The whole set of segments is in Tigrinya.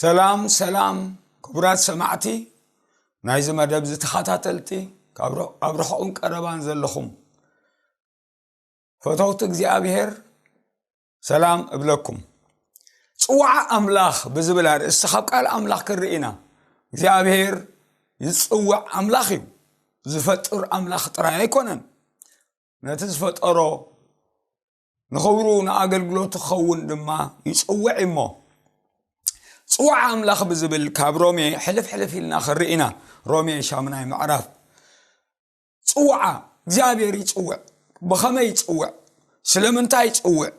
ሰላም ሰላም ክቡራት ሰማዕቲ ናይዚ መደብ ዝተኸታተልቲ ኣብ ርሑቕን ቀረባን ዘለኹም ፈተውቲ እግዚኣብሄር ሰላም እብለኩም ፅዋዓ ኣምላኽ ብዝብል ኣርእስቲ ካብ ቃል ኣምላኽ ክንርኢ ኢና እግዚኣብሄር ዝፅውዕ ኣምላኽ እዩ ዝፈጥር ኣምላኽ ጥራይ ኣይኮነን ነቲ ዝፈጠሮ ንኽብሩ ንኣገልግሎት ክኸውን ድማ ይፅውዕ እሞ ፅዋዓ ኣምላኽ ብዝብል ካብ ሮሜ ሕልፍ ሕልፍ ኢልና ክንርኢ ኢና ሮሜ ሻምናይ ምዕራፍ ፅውዓ እግዚኣብሔር ይፅውዕ ብኸመይ ይፅውዕ ስለምንታይ ይፅውዕ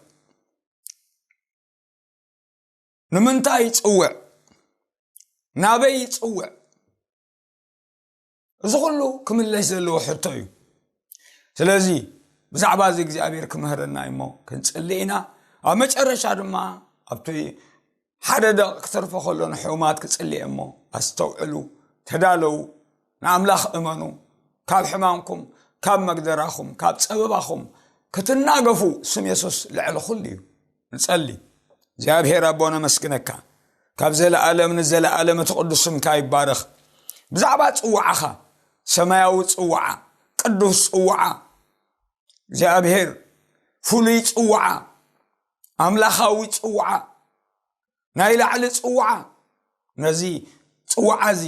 ንምንታይ ይፅውዕ ናበይ ይፅውዕ እዚ ኩሉ ክምለስ ዘለዎ ሕቶ እዩ ስለዚ ብዛዕባ እዚ እግዚኣብሔር ክምህረና እዩሞ ክንፅሊ ኢና ኣብ መጨረሻ ድማ ኣብቲ ሓደ ደቒቕ ክተርፎ ከሎ ንሕሙማት ክጽሊ እሞ ኣስተውዕሉ ተዳለዉ ንኣምላኽ እመኑ ካብ ሕማምኩም ካብ መግደራኹም ካብ ጸበባኹም ክትናገፉ ስም የሱስ ልዕሊ ኩሉ እዩ ንጸሊ እግዚኣብሄር ኣቦ ነመስግነካ ካብ ዘለኣለም ንዘለኣለም እቲ ቅዱስ ስምካ ይባረኽ ብዛዕባ ጽዋዓኻ ሰማያዊ ጽዋዓ ቅዱስ ጽዋዓ እግዚኣብሄር ፍሉይ ጽዋዓ ኣምላኻዊ ፅውዓ ናይ ላዕሊ ፅውዓ ነዚ ፅውዓ እዚ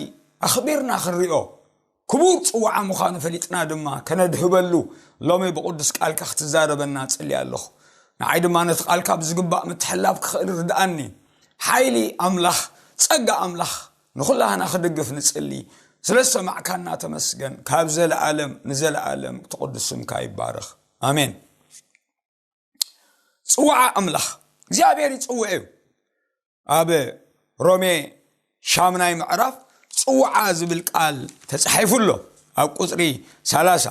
ኣኽቢርና ክንሪኦ ክቡር ፅውዓ ምዃኑ ፈሊጥና ድማ ከነድህበሉ ሎሚ ብቕዱስ ቃልካ ክትዛረበና ፅሊ ኣለኹ ንዓይ ድማ ነቲ ቃልካ ብዝግባእ ምትሕላብ ክኽእል ርድኣኒ ሓይሊ ኣምላኽ ፀጋ ኣምላኽ ንኹላህና ክድግፍ ንፅሊ ስለ ዝሰማዕካና ተመስገን ካብ ዘለኣለም ንዘለኣለም ትቕዱስ ስምካ ይባርኽ ኣሜን ፅዋዓ ኣምላኽ እግዚኣብሔር ይፅውዕ እዩ ኣብ ሮሜ ሻምናይ ምዕራፍ ፅዋዓ ዝብል ቃል ተፃሒፉ ኣሎ ኣብ ቁፅሪ ሰላሳ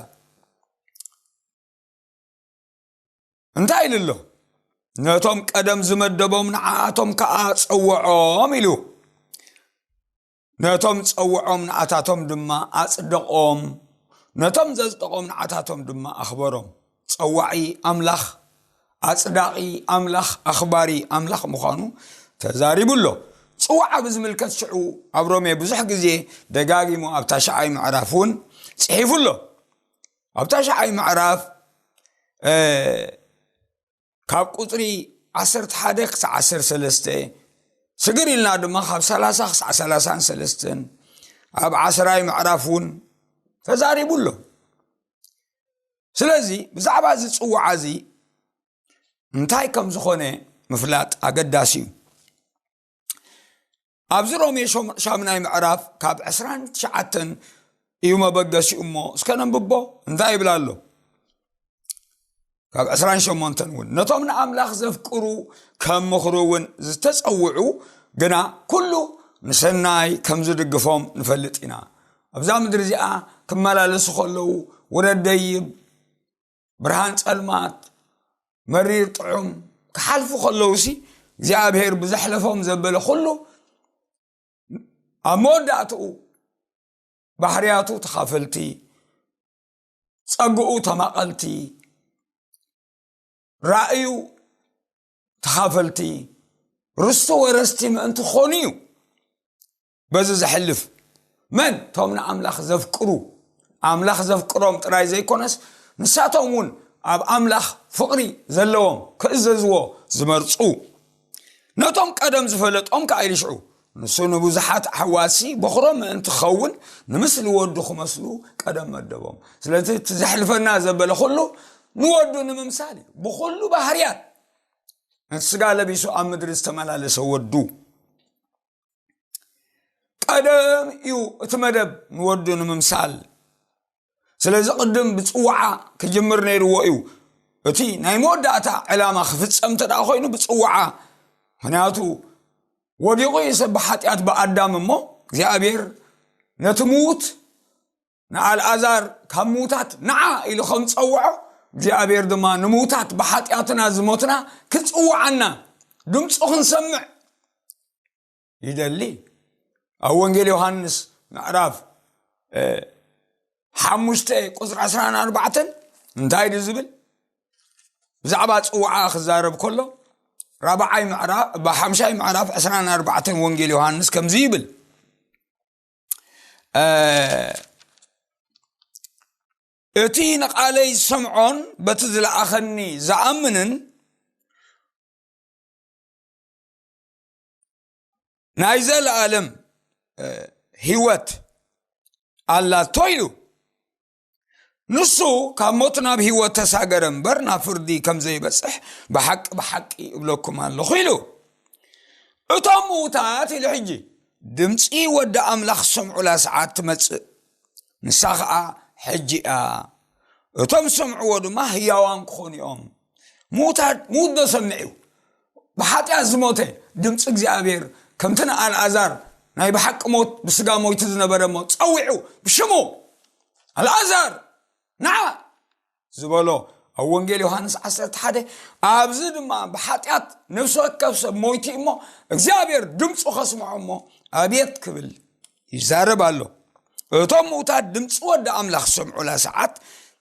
እንታይ ኢሉ ኣሎ ነቶም ቀደም ዝመደቦም ንዓኣቶም ከዓ ፀወዖም ኢሉ ነቶም ጸውዖም ንኣታቶም ድማ ኣጽደቖም፣ ነቶም ዘጽደቖም ንኣታቶም ድማ ኣኽበሮም። ጸዋዒ ኣምላኽ፣ ኣጽዳቒ ኣምላኽ፣ ኣኽባሪ ኣምላኽ ምዃኑ ተዛሪቡ ኣሎ። ጽውዓ ብዝምልከት ሽዑ ኣብ ሮሜ ብዙሕ ግዜ ደጋጊሙ ኣብ ታሽዓይ ምዕራፍ እውን ጽሒፉ ኣሎ። ኣብ ታሽዓይ ምዕራፍ ካብ ቁፅሪ ዓሰርተ ሓደ ክሳዕ ዓሰር ሰለስተ ስግር ኢልና ድማ ካብ ሰላሳ ክሳዕ ሰላሳን ሰለስተን ኣብ ዓስራይ ምዕራፍ እውን ተዛሪቡ ኣሎ ስለዚ ብዛዕባ እዚ ፅዋዓ እዚ እንታይ ከም ዝኾነ ምፍላጥ ኣገዳሲ እዩ ኣብዚ ሮሜ ሻምናይ ምዕራፍ ካብ 29 እዩ መበገሲኡ እሞ እስከ ነንብቦ እንታይ ይብላ ኣሎ ካብ 28 እውን ነቶም ንኣምላኽ ዘፍቅሩ ከም ምኽሩ እውን ዝተፀውዑ ግና ኩሉ ንሰናይ ከም ዝድግፎም ንፈልጥ ኢና ኣብዛ ምድሪ እዚኣ ክመላለሱ ከለዉ ውረደይብ ብርሃን ጸልማት መሪር ጥዑም ክሓልፉ ከለዉ ሲ እግዚኣብሄር ብዘሕለፎም ዘበለ ኩሉ ኣብ መወዳእትኡ ባህርያቱ ተኻፈልቲ ጸግኡ ተማቐልቲ ራእዩ ተኻፈልቲ ርስቲ ወረስቲ ምእንቲ ክኾኑ እዩ በዚ ዘሕልፍ መን እቶም ንኣምላኽ ዘፍቅሩ ኣምላኽ ዘፍቅሮም ጥራይ ዘይኮነስ ንሳቶም እውን ኣብ ኣምላኽ ፍቕሪ ዘለዎም ክእዘዝዎ ዝመርፁ ነቶም ቀደም ዝፈለጦም ከዓ ይልሽዑ ንሱ ንብዙሓት ኣሕዋሲ በኽሮም ምእንቲ ክኸውን ንምስሊ ወዱ ክመስሉ ቀደም መደቦም ስለዚ እቲ ዘሕልፈና ዘበለ ኩሉ ንወዱ ንምምሳል እዩ ብኩሉ ባህርያት እቲ ስጋ ለቢሱ ኣብ ምድሪ ዝተመላለሰ ወዱ ቀደም እዩ እቲ መደብ ንወዱ ንምምሳል ስለዚ ቅድም ብፅዋዓ ክጅምር ነይርዎ እዩ እቲ ናይ መወዳእታ ዕላማ ክፍፀም እንተ ኮይኑ ብፅዋዓ ምክንያቱ ወዲቑ እዩ ሰብ ብሓጢኣት ብኣዳም እሞ እግዚኣብሔር ነቲ ምዉት ንኣልኣዛር ካብ ምዉታት ንዓ ኢሉ ከም ዝፀውዖ እግዚኣብሔር ድማ ንምዉታት ብሓጢኣትና ዝሞትና ክፅውዓና ድምፁ ክንሰምዕ ይደሊ ኣብ ወንጌል ዮሃንስ ምዕራፍ ሓሙሽተ ቁፅሪ ዕስራን ኣርባዕተን እንታይ ዩ ዝብል ብዛዕባ ፅውዓ ክዛረብ ከሎ ራብዓይ ምዕራፍ ብሓምሻይ ምዕራፍ ዕስራን ኣርባዕተን ወንጌል ዮሃንስ ከምዚ ይብል እቲ ንቓለይ ዝሰምዖን በቲ ዝለኣኸኒ ዝኣምንን ናይ ዘለኣለም ህይወት ኣላቶ እዩ ንሱ ካብ ሞት ናብ ህይወት ተሳገረ እምበር ናብ ፍርዲ ከም ዘይበፅሕ ብሓቂ ብሓቂ እብለኩም ኣለኹ ኢሉ እቶም ምዉታት ኢሉ ሕጂ ድምፂ ወዲ ኣምላኽ ዝሰምዑላ ሰዓት ትመፅእ ንሳ ከዓ ሕጂ እያ እቶም ዝሰምዕዎ ድማ ህያዋን ክኾኑ እዮም ምዉታት ምዉት ዶ ሰምዕ እዩ ብሓጢኣት ዝሞተ ድምፂ እግዚኣብሔር ከምቲ ንኣልኣዛር ናይ ብሓቂ ሞት ብስጋ ሞይቱ ዝነበረ እሞ ፀዊዑ ብሽሙ ኣልኣዛር ንዓ ዝበሎ ኣብ ወንጌል ዮሃንስ 11 ኣብዚ ድማ ብሓጢኣት ነብሲ ወከብ ሰብ ሞይቲ እሞ እግዚኣብሔር ድምፁ ከስምዖ እሞ ኣብየት ክብል ይዛረብ ኣሎ እቶም ምውታት ድምፂ ወዲ ኣምላኽ ዝሰምዑላ ሰዓት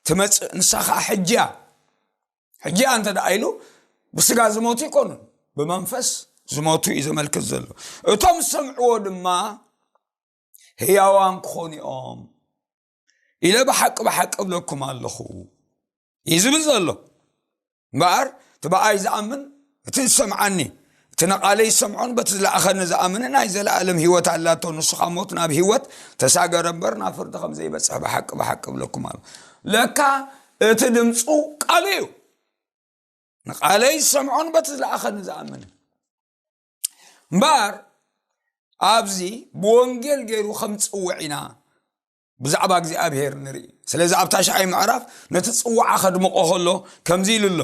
ትመፅእ ንሳ ከዓ ሕጂ እያ ሕጂ ኣንተ ደኣ ኢሉ ብስጋ ዝሞቱ ይኮኑ ብመንፈስ ዝሞቱ እዩ ዘመልክት ዘሎ እቶም ዝሰምዕዎ ድማ ህያዋን ክኾኑ እዮም ኢለ ብሓቂ ብሓቂ እብለኩም ኣለኹ እዩ ዝብል ዘሎ እምበኣር እቲ ብኣይ ዝኣምን እቲ ዝሰምዓኒ፣ እቲ ንቓለይ ዝሰምዖን በቲ ዝለኣኸኒ ዝኣምንን ናይ ዘለኣለም ህይወት ኣላቶ፣ ንሱ ካብ ሞት ናብ ህይወት ተሳገረ እምበር ናብ ፍርዲ ከም ዘይበጽሐ ብሓቂ ብሓቂ እብለኩም ኣለው። ለካ እቲ ድምጹ ቃሉ እዩ። ንቓለይ ዝሰምዖን በቲ ዝለኣኸኒ ዝኣምንን እምበር ኣብዚ ብወንጌል ገይሩ ከም ፅውዕ ኢና ብዛዕባ እግዚኣብሄር ንርኢ ስለዚ ኣብታ ሻዓይ ምዕራፍ ነቲ ፅዋዓ ከድምቆ ከሎ ከምዚ ኢሉ ኣሎ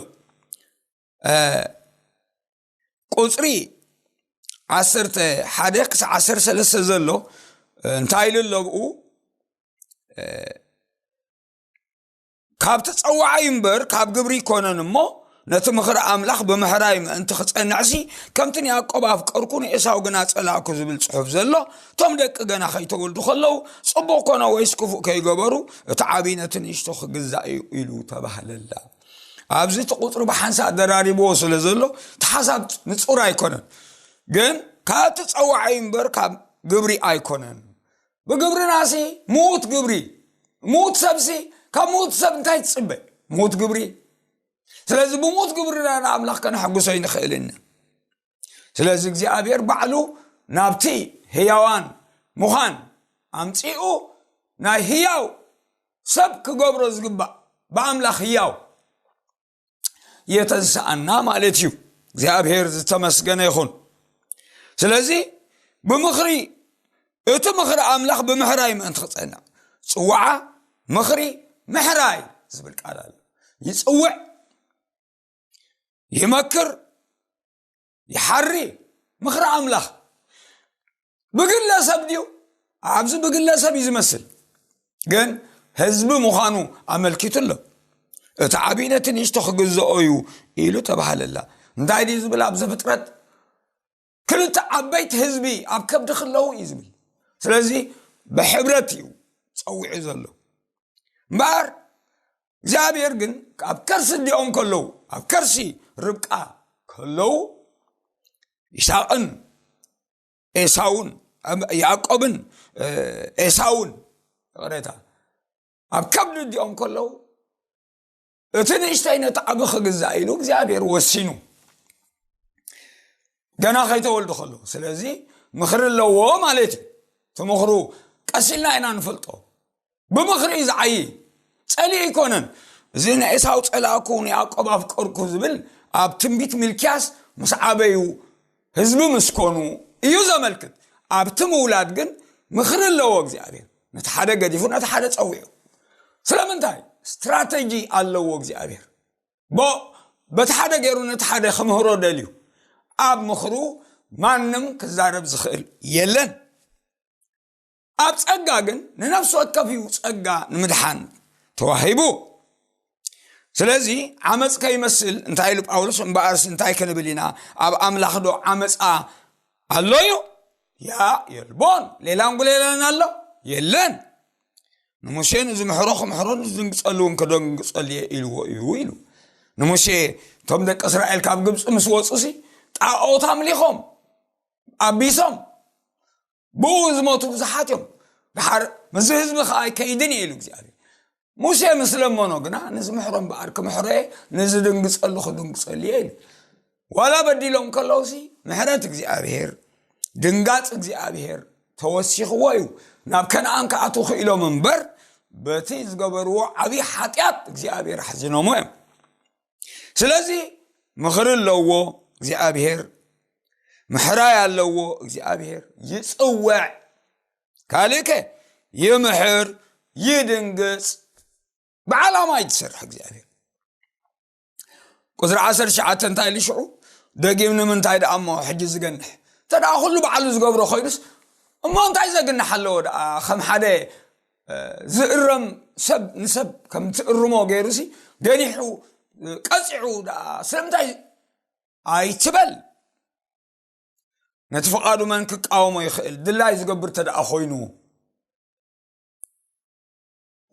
ቁፅሪ ዓሰርተ ሓደ ክሳብ ዓሰርተ ሰለስተ ዘሎ እንታይ ኢሉ ኣለብኡ ካብ ተፀዋዓይ እምበር ካብ ግብሪ ይኮነን እሞ ነቲ ምኽሪ ኣምላኽ ብምሕራይ ምእንቲ ክፀንዕሲ ከምቲ ንያቆብ ኣፍቀርኩ ንኤሳው ግና ፀላእኩ ዝብል ፅሑፍ ዘሎ እቶም ደቂ ገና ከይተወልዱ ከለዉ ፅቡቕ ኮነ ወይስ ክፉእ ከይገበሩ እቲ ዓብዪ ነቲ ንእሽቶ ክግዛእ እዩ ኢሉ ተባህለላ ኣብዚ እቲ ቁፅሪ ብሓንሳእ ደራሪብዎ ስለ ዘሎ እቲ ሓሳብ ንፁር ኣይኮነን ግን ካብ እቲ ፀዋዒ እምበር ካብ ግብሪ ኣይኮነን ብግብርና ሲ ምዉት ግብሪ ምዉት ሰብሲ ካብ ምዉት ሰብ እንታይ ትፅበ ምዉት ግብሪ ስለዚ ብምዉት ግብርና ንኣምላኽ ከነሐጉሶ ኣይንኽእልን ስለዚ እግዚኣብሔር ባዕሉ ናብቲ ህያዋን ምዃን ኣምፂኡ ናይ ህያው ሰብ ክገብሮ ዝግባእ ብኣምላኽ ህያው የተንስኣና ማለት እዩ እግዚኣብሔር ዝተመስገነ ይኹን ስለዚ ብምኽሪ እቲ ምኽሪ ኣምላኽ ብምሕራይ ምእንቲ ክፀንዕ ፅዋዓ ምኽሪ ምሕራይ ዝብል ቃል ኣሎ ይፅውዕ ይመክር ይሓሪ ምኽሪ ኣምላኽ ብግለሰብ ድዩ ኣብዚ ብግለሰብ እዩ ዝመስል ግን ህዝቢ ምዃኑ ኣመልኪቱ ኣሎ እቲ ዓብዪ ነቲ ንእሽቶ ክግዝኦ እዩ ኢሉ ተባሃለላ እንታይ ድዩ ዝብል ኣብ ዘፍጥረት ክልተ ዓበይቲ ህዝቢ ኣብ ከብዲ ክለዉ እዩ ዝብል ስለዚ ብሕብረት እዩ ፀዊዑ ዘሎ እምበኣር እግዚኣብሔር ግን ኣብ ከርሲ እዲኦም ከለዉ ኣብ ከርሲ ርብቃ ከለዉ ይስቅን ኤሳውን ያዕቆብን ኤሳውን ይቕሬታ ኣብ ከብዲ እዲኦም ከለዉ እቲ ንእሽተይ ነቲ ዓቢ ክግዛእ ኢሉ እግዚኣብሔር ወሲኑ ገና ከይተወልዱ ከለዉ ስለዚ ምኽሪ ኣለዎ ማለት እዩ ትምኽሩ ቀስ ኢልና ኢና ንፈልጦ ብምኽሪ እዩ ዝዓይ ጸሊእ ኣይኮነን እዚ ንኤሳው ጸላእኩ ንያዕቆብ ኣፍቀርኩ ዝብል ኣብ ትንቢት ሚልክያስ ምስ ዓበዩ ህዝቢ ምስ ኮኑ እዩ ዘመልክት ኣብቲ ምውላድ ግን ምኽሪ ኣለዎ እግዚኣብሔር ነቲ ሓደ ገዲፉ ነቲ ሓደ ፀዊዑ ስለምንታይ ስትራተጂ ኣለዎ እግዚኣብሔር በቲ ሓደ ገይሩ ነቲ ሓደ ክምህሮ ደልዩ ኣብ ምኽሩ ማንም ክዛረብ ዝኽእል የለን ኣብ ጸጋ ግን ንነፍሲ ወከፍ እዩ ጸጋ ንምድሓን ተዋሂቡ ስለዚ ዓመፅ ከይመስል እንታይ ኢሉ ጳውሎስ እምበኣርሲ እንታይ ክንብል ኢና ኣብ ኣምላኽ ዶ ዓመፃ ኣሎ እዩ ያ የልቦን ሌላን ጉሌላን ኣሎ የለን ንሙሴ ንዝምሕሮ ክምሕሮ ንዝድንግፀሉ እውን ክደንግፀሉ እየ ኢልዎ እዩ ኢሉ ንሙሴ እቶም ደቂ እስራኤል ካብ ግብፂ ምስ ወፁ ሲ ጣኦት ኣምሊኾም ኣቢሶም ብኡ ዝሞቱ ብዙሓት እዮም ድሓር ምዝ ህዝቢ ከዓ ኣይከይድን እየ ኢሉ እግዚኣብሔር ሙሴ ምስ ለመኖ ግና ንዝምሕሮ እምበኣር ክምሕሮ እየ ንዝድንግፀሉ ክድንግፀሉ እየ ኢሉ ዋላ በዲሎም ከለውሲ ምሕረት እግዚኣብሔር ድንጋፅ እግዚኣብሔር ተወሲኽዎ እዩ ናብ ከነኣን ክኣት ክኢሎም እምበር በቲ ዝገበርዎ ዓብዪ ሓጢኣት እግዚኣብሔር ኣሕዝኖሞ እዮም ስለዚ ምኽሪ ኣለዎ እግዚኣብሄር ምሕራይ ኣለዎ እግዚኣብሄር ይፅወዕ ካልእ ከ ይምሕር ይድንግፅ ብዓላማ እዩ ዝሰርሕ እግዚኣብሄር ቁፅሪ ዓሰርተ ትሽዓተ እንታይ ኢሉ ሽዑ ደጊም ንምንታይ ደኣ እሞ ሕጂ ዝገንሕ እንተ ኩሉ ባዕሉ ዝገብሮ ኮይኑስ እሞ እንታይ ዘግንሕ ኣለዎ ደኣ ከም ሓደ ዝእረም ሰብ ንሰብ ከም ትእርሞ ገይሩ ሲ ገኒሑ ቀፂዑ ደኣ ስለምንታይ ኣይትበል ነቲ ፍቓዱ መን ክቃወሞ ይኽእል ድላይ ዝገብር ተደኣ ኮይኑ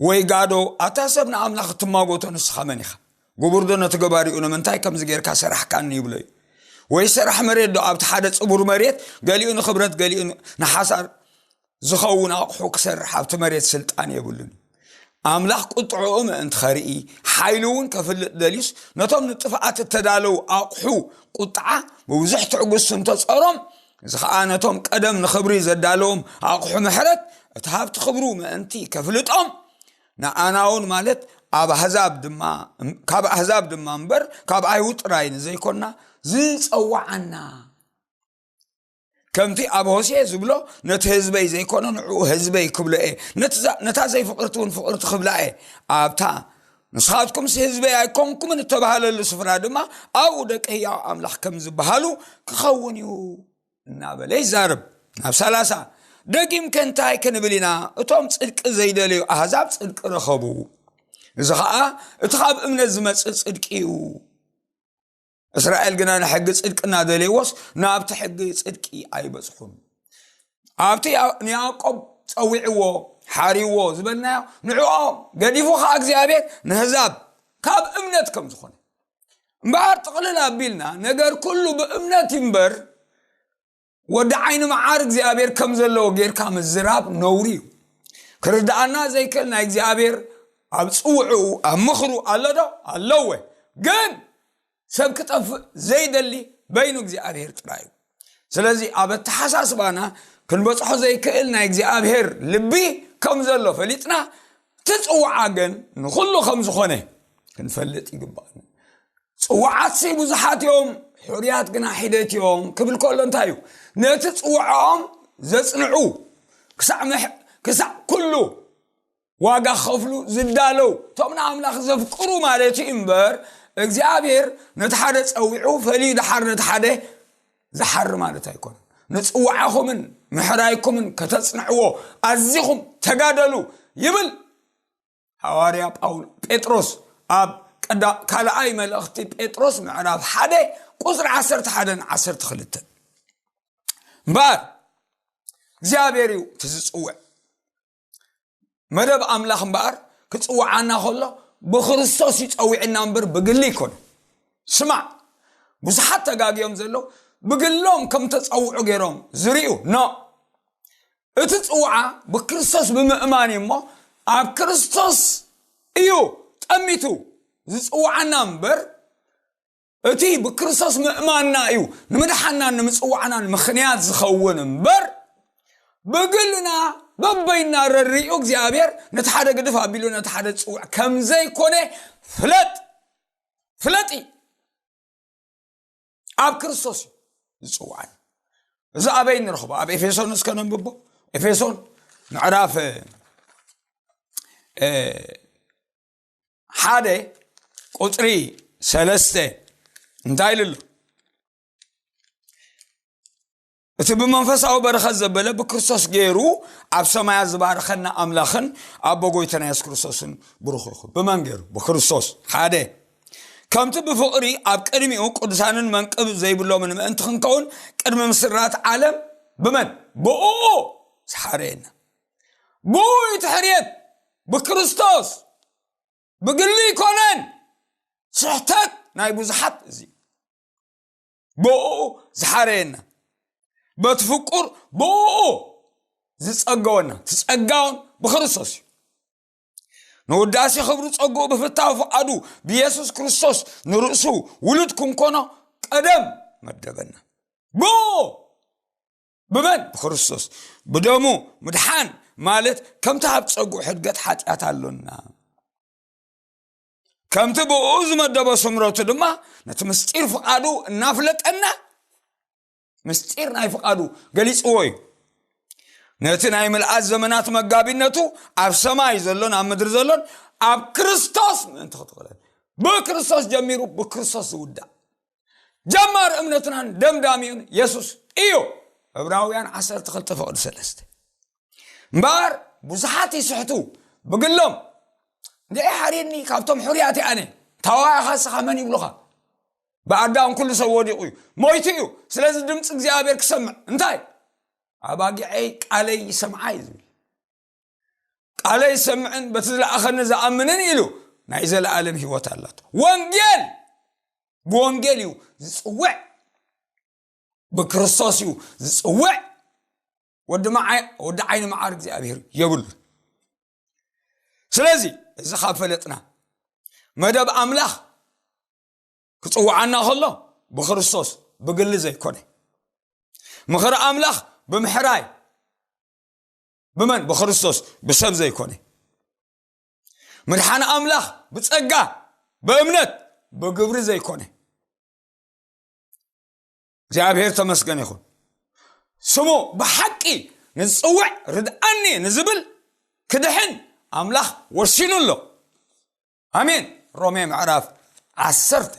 ወይ ጋዶ ኣታ ሰብ ንኣምላኽ እትማጎቶ ንስኻ መን ኢኻ ጉቡርዶ ነቲ ገባሪኡ ንምንታይ ከምዚ ጌርካ ሰራሕካኒ ይብሎ እዩ ወይ ሰራሕ መሬት ዶ ኣብቲ ሓደ ፅቡር መሬት ገሊኡ ንክብረት ገሊኡ ንሓሳር ዝኸውን ኣቕሑ ክሰርሕ ኣብቲ መሬት ስልጣን የብሉን ኣምላኽ ቁጥዕኡ ምእንቲ ኸርኢ ሓይሉ እውን ከፍልጥ ደልዩስ ነቶም ንጥፍኣት እተዳለዉ ኣቑሑ ቁጥዓ ብብዙሕ ትዕግስቱ እንተፀሮም እዚ ከዓ ነቶም ቀደም ንኽብሪ ዘዳለዎም ኣቑሑ ምሕረት እቲ ሃብቲ ክብሩ ምእንቲ ከፍልጦም ንኣናውን ማለት ኣብ ኣህዛብ ድማ ካብ ኣህዛብ ድማ እምበር ካብ ኣይሁድ ጥራይ ንዘይኮና ዝፀዋዓና ከምቲ ኣብ ሆሴ ዝብሎ ነቲ ህዝበይ ዘይኮነ ንዕኡ ህዝበይ ክብሎ እየ ነታ ዘይፍቅርቲ እውን ፍቅርቲ ክብላ እየ ኣብታ ንስኻትኩምስ ህዝበይ ኣይኮንኩምን እተባሃለሉ ስፍራ ድማ ኣብኡ ደቂ ህያው ኣምላኽ ከም ዝበሃሉ ክኸውን እዩ እናበለ ይዛርብ ናብ ሰላሳ ደጊም ከንታይ ክንብል ኢና እቶም ፅድቂ ዘይደለዩ ኣህዛብ ፅድቂ ረኸቡ እዚ ከዓ እቲ ካብ እምነት ዝመፅእ ፅድቂ እዩ እስራኤል ግና ንሕጊ ፅድቂ እናደልየዎስ ናብቲ ሕጊ ፅድቂ ኣይበፅሑን ኣብቲ ንያዕቆብ ፀዊዕዎ ሓሪዎ ዝበልናዮ ንዕኦም ገዲፉ ከዓ እግዚኣብሔር ንህዛብ ካብ እምነት ከም ዝኾነ እምበኣር ጥቕልል ኣቢልና ነገር ኩሉ ብእምነት ይንበር ወዲ ዓይኒ መዓር እግዚኣብሔር ከም ዘለዎ ጌርካ ምዝራብ ነውሪ እዩ ክርድኣና ዘይክእል ናይ እግዚኣብሔር ኣብ ፅውዕኡ ኣብ ምኽሩ ኣሎ ዶ ኣለወ ግን ሰብ ክጠፍእ ዘይደሊ በይኑ እግዚኣብሔር ጥራይ እዩ ስለዚ ኣብ ኣተሓሳስባና ክንበፅሖ ዘይክእል ናይ እግዚኣብሔር ልቢ ከም ዘሎ ፈሊጥና እቲ ፅዋዓ ግን ንኹሉ ከም ዝኾነ ክንፈልጥ ይግባእ ፅዋዓትሲ ብዙሓት እዮም ሕሩያት ግና ሒደት እዮም ክብል ከሎ እንታይ እዩ ነቲ ፅዋዕኦም ዘፅንዑ ክሳዕ ኩሉ ዋጋ ክኸፍሉ ዝዳለው እቶም ንኣምላኽ ዘፍቅሩ ማለት እዩ እምበር እግዚኣብሔር ነቲ ሓደ ፀዊዑ ፈልዩ ድሓር ነቲ ሓደ ዝሓሪ ማለት ኣይኮነን ንፅዋዓኹምን ምሕራይኩምን ከተፅንዕዎ ኣዚኹም ተጋደሉ ይብል ሃዋርያ ጳውሎ ጴጥሮስ ኣብ ቀዳ ካልኣይ መልእኽቲ ጴጥሮስ ምዕራፍ ሓደ ቁፅሪ ዓሰርተ ሓደን ዓሰርተ ክልተን እምበኣር እግዚኣብሔር እዩ እቲ ዝፅውዕ መደብ ኣምላኽ እምበኣር ክፅውዓና ከሎ ብክርስቶስ እዩ ፀዊዕና እምበር ብግሊ ይኮነ ስማዕ ብዙሓት ተጋግዮም ዘለዉ ብግሎም ከም ተፀውዑ ገይሮም ዝርዩ ኖ እቲ ፅውዓ ብክርስቶስ ብምእማን እዩ እሞ ኣብ ክርስቶስ እዩ ጠሚቱ ዝፅውዓና እምበር እቲ ብክርስቶስ ምእማንና እዩ ንምድሓናን ንምፅዋዕናን ምኽንያት ዝኸውን እምበር ብግልና በበይና ረሪኡ እግዚኣብሔር ነቲ ሓደ ግድፍ ኣቢሉ ነቲ ሓደ ዝፅውዕ ከም ዘይኮነ ፍለጥ ፍለጢ ኣብ ክርስቶስ እዩ ዝፅዋዕን እዚ ኣበይ ንረኽቦ ኣብ ኤፌሶን እስከ ነንብቦ ኤፌሶን ምዕራፍ ሓደ ቁፅሪ ሰለስተ እንታይ ኢሉ ኣሎ እቲ ብመንፈሳዊ በረኸት ዘበለ ብክርስቶስ ገይሩ ኣብ ሰማያ ዝባረኸና ኣምላኽን ኣቦ ጎይተና የሱስ ክርስቶስን ብሩኽ ይኹን ብመን ገይሩ ብክርስቶስ ሓደ ከምቲ ብፍቕሪ ኣብ ቅድሚኡ ቅዱሳንን መንቅብ ዘይብሎምን ምእንቲ ክንከውን ቅድሚ ምስራት ዓለም ብመን ብኡ ዝሓረየና ብኡይ ትሕርየት ብክርስቶስ ብግሊ ይኮነን ስሕተት ናይ ብዙሓት እዚ ብኡ ዝሓረየና በቲ ፍቁር ብኡ ዝፀገወና ትፀጋውን ብክርስቶስ እዩ ንውዳሴ ክብሩ ፀጉኡ ብፍታዊ ፍቓዱ ብየሱስ ክርስቶስ ንርእሱ ውሉድ ክንኮኖ ቀደም መደበና ብኡ ብመን ብክርስቶስ ብደሙ ምድሓን ማለት ከምቲ ኣብ ፀጉዑ ሕድገት ሓጢኣት ኣሎና ከምቲ ብኡ ዝመደበ ስምረቱ ድማ ነቲ ምስጢር ፍቓዱ እናፍለጠና ምስጢር ናይ ፍቓዱ ገሊፅዎ እዩ ነቲ ናይ ምልኣት ዘመናት መጋቢነቱ ኣብ ሰማይ ዘሎን ኣብ ምድሪ ዘሎን ኣብ ክርስቶስ ምእንቲ ክትቕለል ብክርስቶስ ጀሚሩ ብክርስቶስ ዝውዳእ ጀማር እምነትናን ደምዳሚኡን የሱስ እዩ ዕብራውያን 12 ፍቕዲ 3 እምበኣር ብዙሓት ይስሕቱ ብግሎም ንዒ ሓሪድኒ ካብቶም ሕርያት ኣነ ታዋኢኻ ስኻ መን ይብሉኻ ብኣዳም ኩሉ ሰብ ወዲቑ እዩ ሞይቱ እዩ ስለዚ ድምፂ እግዚኣብሔር ክሰምዕ እንታይ ኣባጊዐይ ቃለይ ይሰምዓ እዩ ዝብል ቃለይ ዝሰምዕን በቲ ዝለኣኸኒ ዝኣምንን ኢሉ ናይ ዘለኣለም ህይወት ኣላቶ ወንጌል ብወንጌል እዩ ዝፅውዕ ብክርስቶስ እዩ ዝፅውዕ ወዲ ዓይኒ መዓር እግዚኣብሄር የብሉ ስለዚ እዚ ካብ ፈለጥና መደብ ኣምላኽ ክፅውዓና ከሎ ብክርስቶስ ብግሊ ዘይኮነ ምኽሪ ኣምላኽ ብምሕራይ ብመን ብክርስቶስ ብሰብ ዘይኮነ ምድሓን ኣምላኽ ብጸጋ ብእምነት ብግብሪ ዘይኮነ እግዚኣብሔር ተመስገን ይኹን ስሙ ብሓቂ ንዝፅውዕ ርድኣኒ ንዝብል ክድሕን ኣምላኽ ወሲኑ ኣሎ ኣሜን ሮሜ ምዕራፍ ዓሰርተ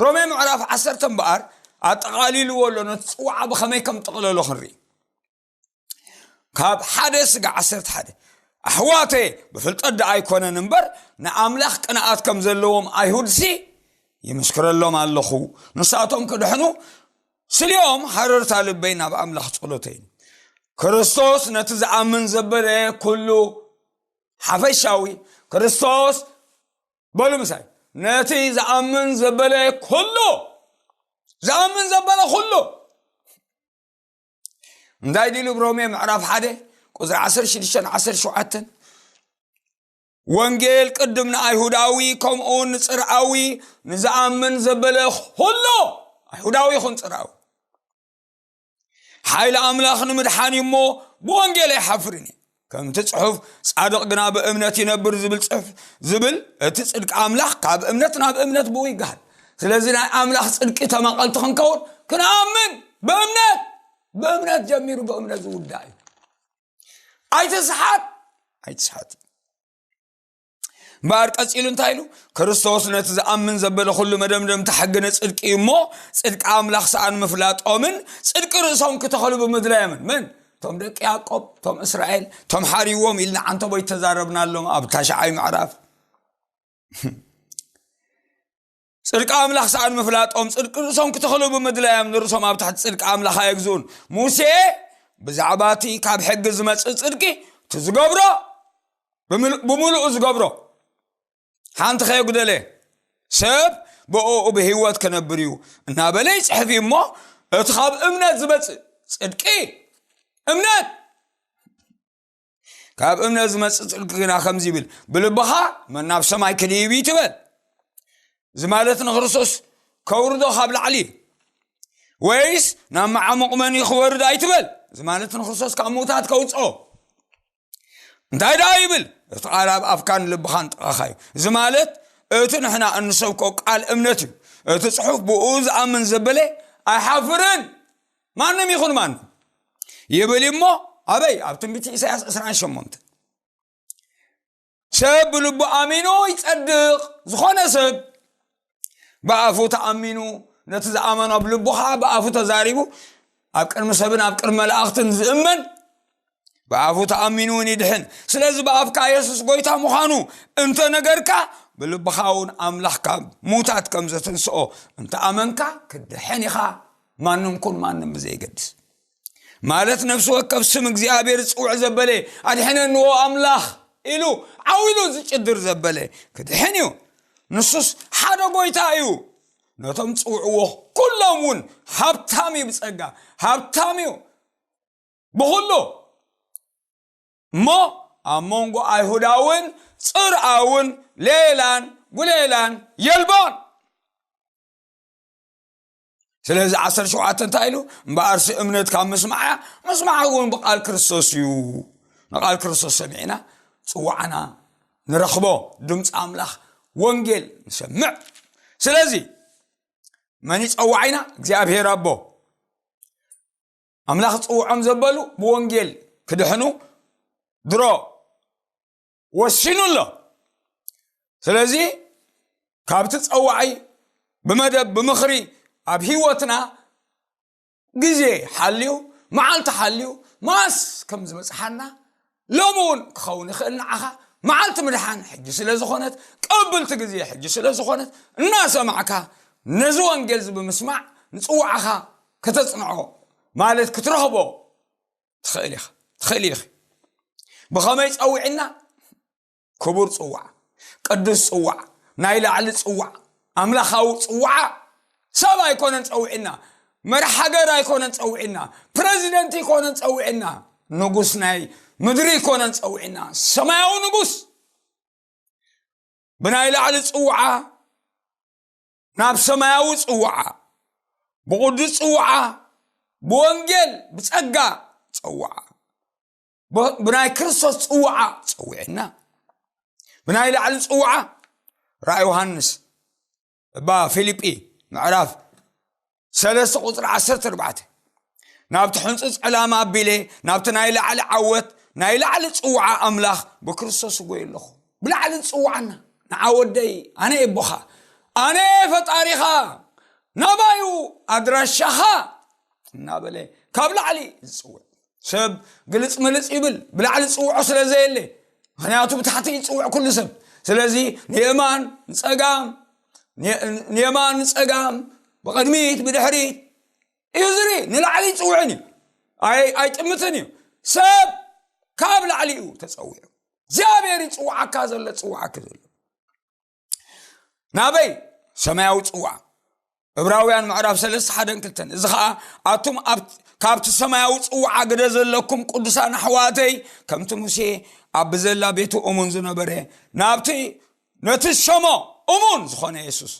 ሮሜ ምዕራፍ ዓሰርተ እምበኣር ኣጠቓሊልዎ ኣሎ ነቲ ፅዋዓ ብኸመይ ከም ጥቕለሎ ክንርኢ ካብ ሓደ ስጋ ዓሰርተ ሓደ ኣሕዋተ ብፍልጠት ደ ኣይኮነን እምበር ንኣምላኽ ቅንኣት ከም ዘለዎም ኣይሁድሲ ይምስክረሎም ኣለኹ ንሳቶም ክድሕኑ ስልኦም ሃረርታ ልበይ ናብ ኣምላኽ ጸሎተይ ክርስቶስ ነቲ ዝኣምን ዘበለ ኩሉ ሓፈሻዊ ክርስቶስ በሉ ምሳይ ነቲ ዝኣምን ዘበለ ኩሉ ዝኣምን ዘበለ ኩሉ እንታይ ድሉ ብሮሜ ምዕራፍ ሓደ ቁፅሪ 16 17 ወንጌል ቅድም ንኣይሁዳዊ ከምኡውን ንፅርኣዊ ንዝኣምን ዘበለ ኩሎ ኣይሁዳዊ ይኹን ፅርኣዊ ሓይሊ ኣምላኽ ንምድሓን እዩ እሞ ብወንጌል ኣይሓፍርን እዩ ከምቲ ጽሑፍ ጻድቕ ግና ብእምነት ይነብር ዝብል ጽሑፍ ዝብል እቲ ጽድቂ ኣምላኽ ካብ እምነት ናብ እምነት ብኡ ይገሃል ስለዚ ናይ ኣምላኽ ጽድቂ ተማቐልቲ ክንከውን ክንኣምን ብእምነት ብእምነት ጀሚሩ ብእምነት ዝውዳእ እዩ ኣይትስሓት ኣይትስሓት እምበኣር ቀፂሉ እንታይ ኢሉ ክርስቶስ ነቲ ዝኣምን ዘበለ ኩሉ መደምደምቲ ሕጊ ንፅድቂ እዩ እሞ ፅድቂ ኣምላኽ ሰኣን ምፍላጦምን ፅድቂ ርእሶም ክተኸሉ ብምድላዮምን መን እቶም ደቂ ያቆብ እቶም እስራኤል እቶም ሓሪዎም ኢልና ዓንተቦይ ተዛረብናሎም ኣብ ታሽዓይ ምዕራፍ ጽድቂ ኣምላኽ ሰኣን ምፍላጦም ጽድቂ ርእሶም ክተኽሉ ብምድላዮም ንርእሶም ኣብ ትሕቲ ጽድቂ ኣምላኽ ኣየግዝኡን ሙሴ ብዛዕባ እቲ ካብ ሕጊ ዝመጽእ ጽድቂ እቲ ዝገብሮ ብምልኡ ዝገብሮ ሓንቲ ከየጉደለ ሰብ ብእኡ ብህይወት ክነብር እዩ እናበለ ይፅሕፍ እዩ እሞ እቲ ካብ እምነት ዝመፅእ ጽድቂ እምነት ካብ እምነት ዝመፅእ ፅድቂ ግና ከምዚ ይብል ብልብኻ መናብ ሰማይ ክድይብ ትበል እዚ ማለት ንክርስቶስ ከውርዶ ካብ ላዕሊ እዩ ወይስ ናብ መዓሙቕ መን ክወርድ ኣይትበል እዚ ማለት ንክርስቶስ ካብ ምውታት ከውፅኦ እንታይ ደኣ ይብል እቲ ቃል ኣብ ኣፍካን ልብኻን ጥቓኻ እዩ እዚ ማለት እቲ ንሕና እንሰብኮ ቃል እምነት እዩ እቲ ፅሑፍ ብኡ ዝኣምን ዘበለ ኣይሓፍርን ማንም ይኹን ማንም ይብል እሞ ኣበይ ኣብ ትንቢት ኢሳያስ 28 ሰብ ብልቡ ኣሚኑ ይጸድቕ ዝኾነ ሰብ ብኣፉ ተኣሚኑ ነቲ ዝኣመኖ ኣብ ልቡ ከዓ ብኣፉ ተዛሪቡ ኣብ ቅድሚ ሰብን ኣብ ቅድሚ መላእኽትን ዝእመን ብኣፉ ተኣሚኑ እውን ይድሕን ስለዚ ብኣፍካ የሱስ ጎይታ ምዃኑ እንተ ነገርካ ብልብኻ እውን ኣምላኽ ካብ ሙታት ከም ዘትንስኦ እንተ ኣመንካ ክድሕን ኢኻ ማንም ኩን ማንም ብዘይገድስ ማለት ነፍሲ ወከብ ስም እግዚኣብሔር ዝፅውዕ ዘበለ ኣድሕነንዎ ኣምላኽ ኢሉ ዓው ኢሉ ዝጭድር ዘበለ ክድሕን እዩ ንሱስ ሓደ ጎይታ እዩ ነቶም ፅውዕዎ ኩሎም እውን ሃብታም እዩ ብፀጋ ሃብታም እዩ ብኹሉ እሞ ኣብ መንጎ ኣይሁዳውን ጽርኣውን ሌላን ጉሌላን የልቦን ስለዚ ዓሰርተ ሸውዓተ እንታይ ኢሉ እምበኣርሲ እምነት ካብ ምስማዕ እያ ምስማዕ እውን ብቓል ክርስቶስ እዩ ንቓል ክርስቶስ ሰሚዕና ፅዋዕና ንረኽቦ ድምፂ ኣምላኽ ወንጌል ንሰምዕ ስለዚ መን ይፀዋዒና እግዚኣብሄር ኣቦ ኣምላኽ ጽውዖም ዘበሉ ብወንጌል ክድሕኑ ድሮ ወሲኑ ኣሎ ስለዚ ካብቲ ፀዋዒ ብመደብ ብምኽሪ ኣብ ሂወትና ግዜ ሓልዩ መዓልቲ ሓልዩ ማስ ከም ዝበፅሓና ሎሚ እውን ክኸውን ይኽእል ንዓኻ መዓልቲ ምድሓን ሕጂ ስለ ዝኾነት ቀብልቲ ግዜ ሕጂ ስለ ዝኾነት እናሰማዕካ ነዚ ወንጌል እዚ ብምስማዕ ንፅዋዕኻ ከተፅንዖ ማለት ክትረኽቦ ትኽእል ኢኻ ትኽእል ኢኺ ብኸመይ ፀዊዕና ክቡር ፅዋዕ ቅዱስ ፅዋዕ ናይ ላዕሊ ፅዋዕ ኣምላኻዊ ፅዋዓ ሰብ ኣይኮነን ፀውዒና መራሕ ሃገር ኣይኮነን ፀውዒና ፕረዚደንት ይኮነን ፀውዒና ንጉስ ናይ ምድሪ ይኮነን ፀውዒና ሰማያዊ ንጉስ ብናይ ላዕሊ ፅውዓ ናብ ሰማያዊ ፅውዓ ብቕዱስ ፅውዓ ብወንጌል ብፀጋ ፀውዓ ብናይ ክርስቶስ ፅዋዓ ፀዊዕና ብናይ ላዕሊ ፅዋዓ ራ ዮሃንስ እባ ፊልጲ ምዕራፍ ሰለስተ ቁፅሪ ዓሰርተ ኣርባዕተ ናብቲ ሕንፁ ፀላም ኣቢለ ናብቲ ናይ ላዕሊ ዓወት ናይ ላዕሊ ፅዋዓ ኣምላኽ ብክርስቶስ ጎይ ኣለኹ ብላዕሊ ዝፅዋዓና ንዓወደይ ኣነ የቦኻ ኣነ ፈጣሪኻ ናባዩ ኣድራሻኻ እናበለ ካብ ላዕሊ ዝፅውዕ ሰብ ግልፅ ምልፅ ይብል ብላዕሊ ፅውዖ ስለ ዘየለ ምክንያቱ ብታሕቲ ይፅውዕ ኩሉ ሰብ ስለዚ ንየማን ንፀጋም ንየማን ንፀጋም ብቕድሚት ብድሕሪት እዩ ዝርኢ ንላዕሊ ይፅውዕን እዩ ኣይጥምትን እዩ ሰብ ካብ ላዕሊ እዩ ተፀዊዑ እግዚኣብሔር ይፅውዓካ ዘሎ ፅውዓኪ ዘሎ ናበይ ሰማያዊ ፅዋ እብራውያን ምዕራፍ ሰለስተ ሓደን ክልተን እዚ ከዓ ኣቱም ካብቲ ሰማያዊ ፅዋዓ ግደ ዘለኩም ቅዱሳን ኣሕዋተይ ከምቲ ሙሴ ኣብ ብዘላ ቤቱ እሙን ዝነበረ ናብቲ ነቲ ሸሞ እሙን ዝኾነ የሱስ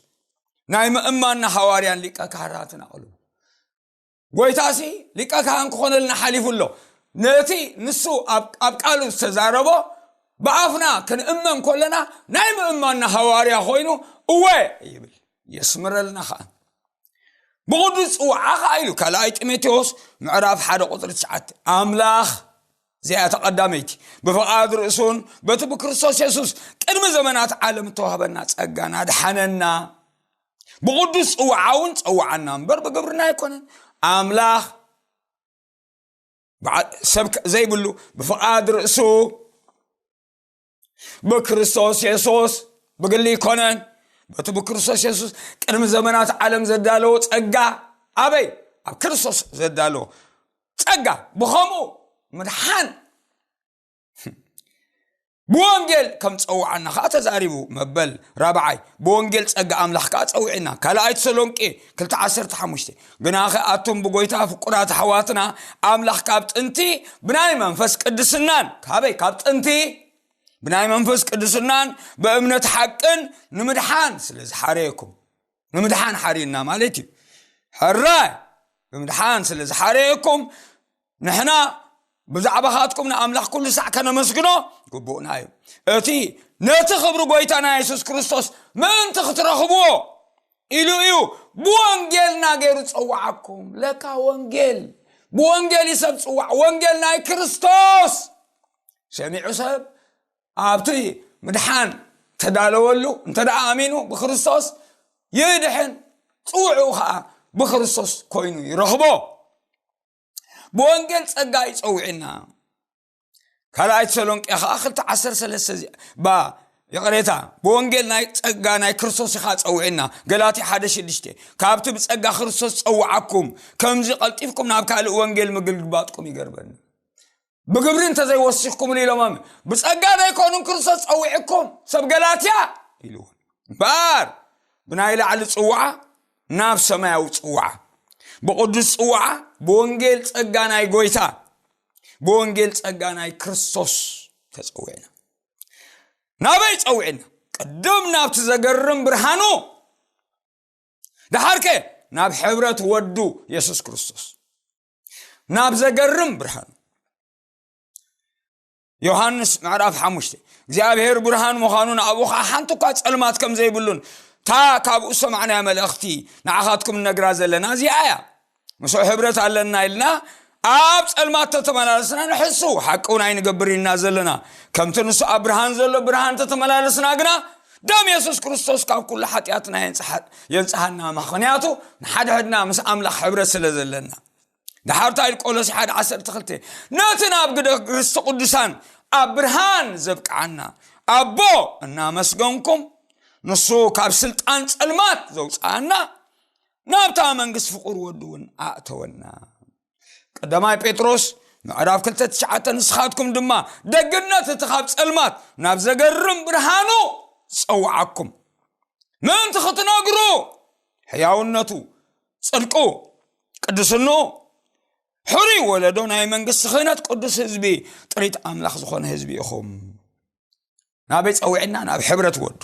ናይ ምእማንና ሃዋርያን ሊቀ ካህራትን ኣቕልቡ ጎይታሲ ሊቀ ካህን ክኾነልና ሓሊፉ ኣሎ ነቲ ንሱ ኣብ ቃሉ ዝተዛረቦ ብኣፍና ክንእመን ኮለና ናይ ምእማና ሃዋርያ ኮይኑ እወ ይብል የስምረልና ከዓ ብቕዱስ ፅዋዓ ከዓ ኢሉ ካልኣይ ጢሞቴዎስ ምዕራፍ ሓደ ቁፅሪ ትሽዓተ ኣምላኽ እዚኣ ተቐዳመይቲ ብፍቓድ ርእሱን በቲ ብክርስቶስ የሱስ ቅድሚ ዘመናት ዓለም እተዋህበና ጸጋን ኣድሓነና ብቕዱስ ፅውዓውን ፀውዓና እምበር ብግብርና ኣይኮነን ኣምላኽ ሰብ ዘይብሉ ብፍቓድ ርእሱ ብክርስቶስ የሱስ ብግሊ ይኮነን በቲ ብክርስቶስ የሱስ ቅድሚ ዘመናት ዓለም ዘዳለዎ ፀጋ ኣበይ ኣብ ክርስቶስ ዘዳለዎ ፀጋ ብኸምኡ ምድሓን ብወንጌል ከም ፀውዓና ከዓ ተዛሪቡ መበል ራብዓይ ብወንጌል ፀጋ ኣምላኽ ከዓ ፀውዒና ካልኣይ ተሰሎንቄ 215 ግናኸ ኣቱም ብጎይታ ፍቁራት ኣሕዋትና ኣምላኽ ካብ ጥንቲ ብናይ መንፈስ ቅድስናን ካበይ ካብ ጥንቲ ብናይ መንፈስ ቅድስናን ብእምነት ሓቅን ንምድሓን ስለ ዝሓረየኩም ንምድሓን ሓሪና ማለት እዩ ሕራይ ብምድሓን ስለ ዝሓረየኩም ንሕና ብዛዕባኻትኩም ንኣምላኽ ኩሉ ሳዕ ከነመስግኖ ግቡእና እዩ እቲ ነቲ ክብሪ ጎይታና የሱስ ክርስቶስ ምእንቲ ክትረኽብዎ ኢሉ እዩ ብወንጌልና ገይሩ ፀዋዓኩም ለካ ወንጌል ብወንጌል እዩ ሰብ ፅዋዕ ወንጌል ናይ ክርስቶስ ሰሚዑ ሰብ ኣብቲ ምድሓን ተዳለወሉ እንተ ደኣ ኣሚኑ ብክርስቶስ ይድሕን ፅውዑ ከዓ ብክርስቶስ ኮይኑ ይረኽቦ ብወንጌል ጸጋ እዩ ጸዊዕና ካልኣይ ተሰሎንቄ ከዓ ክልተ ዓሰር ሰለስተ ባ ይቕሬታ ብወንጌል ናይ ጸጋ ናይ ክርስቶስ ኢኻ ጸውዕና ገላቲ ሓደ ሽዱሽተ ካብቲ ብጸጋ ክርስቶስ ጸውዓኩም ከምዚ ቐልጢፍኩም ናብ ካልእ ወንጌል ምግልግባጥኩም ይገርበኒ ብግብሪ እንተዘይወሲኽኩምኒ ኢሎም ኣም ብጸጋ ዘይኮኑ ክርስቶስ ጸዊዕኩም ሰብ ገላትያ ኢልዎ እምበኣር ብናይ ላዕሊ ጽዋዓ ናብ ሰማያዊ ጽዋዓ ብቕዱስ ጽዋዓ ብወንጌል ጸጋ ናይ ጎይታ ብወንጌል ጸጋ ናይ ክርስቶስ ተጸዊዕና ናበይ ጸዊዕና ቅድም ናብቲ ዘገርም ብርሃኑ ድሓርከ ናብ ሕብረት ወዱ የሱስ ክርስቶስ ናብ ዘገርም ብርሃኑ ዮሃንስ ምዕራፍ ሓሙሽተ እግዚኣብሔር ብርሃን ምዃኑን ኣብኡ ከዓ ሓንቲ እኳ ፀልማት ከም ዘይብሉን እታ ካብኡ ሰማዕናያ መልእኽቲ ንዓኻትኩም እነግራ ዘለና እዚኣ እያ ምስኡ ሕብረት ኣለና ኢልና ኣብ ፀልማት ተተመላለስና ንሕሱ ሓቂ እውን ኣይንገብር ኢና ዘለና ከምቲ ንሱ ኣብ ብርሃን ዘሎ ብርሃን ተተመላለስና ግና ደም የሱስ ክርስቶስ ካብ ኩሉ ሓጢኣትና የንጽሃና ምክንያቱ ንሓድሕድና ምስ ኣምላኽ ሕብረት ስለ ዘለና ድሓርታ ኢል ቆሎሲ ሓደ ዓሰርተ ክልተ ነቲ ናብ ግደ ርስቲ ቅዱሳን ኣብ ብርሃን ዘብቅዓና ኣቦ እናመስገንኩም ንሱ ካብ ስልጣን ጸልማት ዘውፅኣና ናብታ መንግስቲ ፍቕር ወዱ እውን ኣእተወና ቀዳማይ ጴጥሮስ ምዕራፍ ክልተ ትሽዓተ ንስኻትኩም ድማ ደግነት እቲ ካብ ጸልማት ናብ ዘገርም ብርሃኑ ዝጸውዓኩም ምእንቲ ክትነግሩ ሕያውነቱ ጽድቁ ቅድስኑ ሕሩይ ወለዶ ናይ መንግስቲ ክህነት ቅዱስ ህዝቢ ጥሪት ኣምላኽ ዝኾነ ህዝቢ ኢኹም ናበይ ፀዊዕና ናብ ሕብረት ወዱ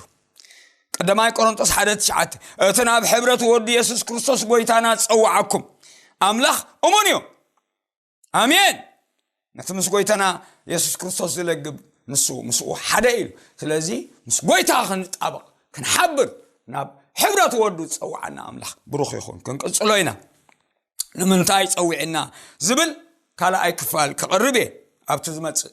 ቀዳማይ ቆሮንጦስ ሓደ ትሽዓተ እቲ ናብ ሕብረት ወዱ የሱስ ክርስቶስ ጎይታና ዝፀዋዓኩም ኣምላኽ እሙን እዩ ኣሜን ነቲ ምስ ጎይታና የሱስ ክርስቶስ ዝለግብ ንሱ ምስኡ ሓደ እዩ ስለዚ ምስ ጎይታ ክንጣበቕ ክንሓብር ናብ ሕብረት ወዱ ዝፀዋዓና ኣምላኽ ብሩኽ ይኹን ክንቅፅሎ ኢና ንምንታይ ፀዊዕና ዝብል ካልኣይ ክፋል ክቕርብ እየ ኣብቲ ዝመፅእ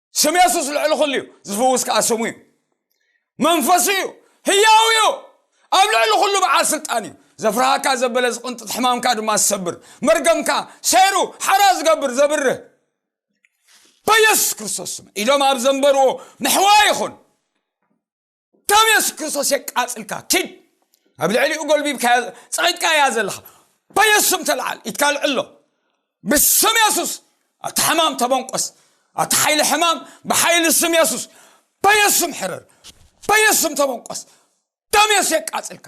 ስም የሱስ ልዕሊ ኩሉ እዩ ዝፍውስ ከዓ ስሙ እዩ መንፈሱ እዩ ህያው እዩ ኣብ ልዕሊ ኩሉ በዓል ስልጣን እዩ ዘፍርሃካ ዘበለ ዝቕንጥጥ ሕማምካ ድማ ዝሰብር መርገምካ ሰይሩ ሓራ ዝገብር ዘብርህ በየሱስ ክርስቶስ ስም ኢሎም ኣብ ዘንበርዎ ምሕዋ ይኹን ከም የሱስ ክርስቶስ የቃጽልካ ኪድ ኣብ ልዕሊኡ ጎልቢብካ ጸቂጥካ እያ ዘለኻ በየሱስም ተለዓል ኢትካ ልዕሎ ብስም የሱስ ኣቲ ሕማም ተበንቆስ ኣቲ ሓይሊ ሕማም ብሓይሊ ስም የሱስ በየሱስም ሕርር በየሱስም ተበንቆስ ደም የሱስ የቃጽልካ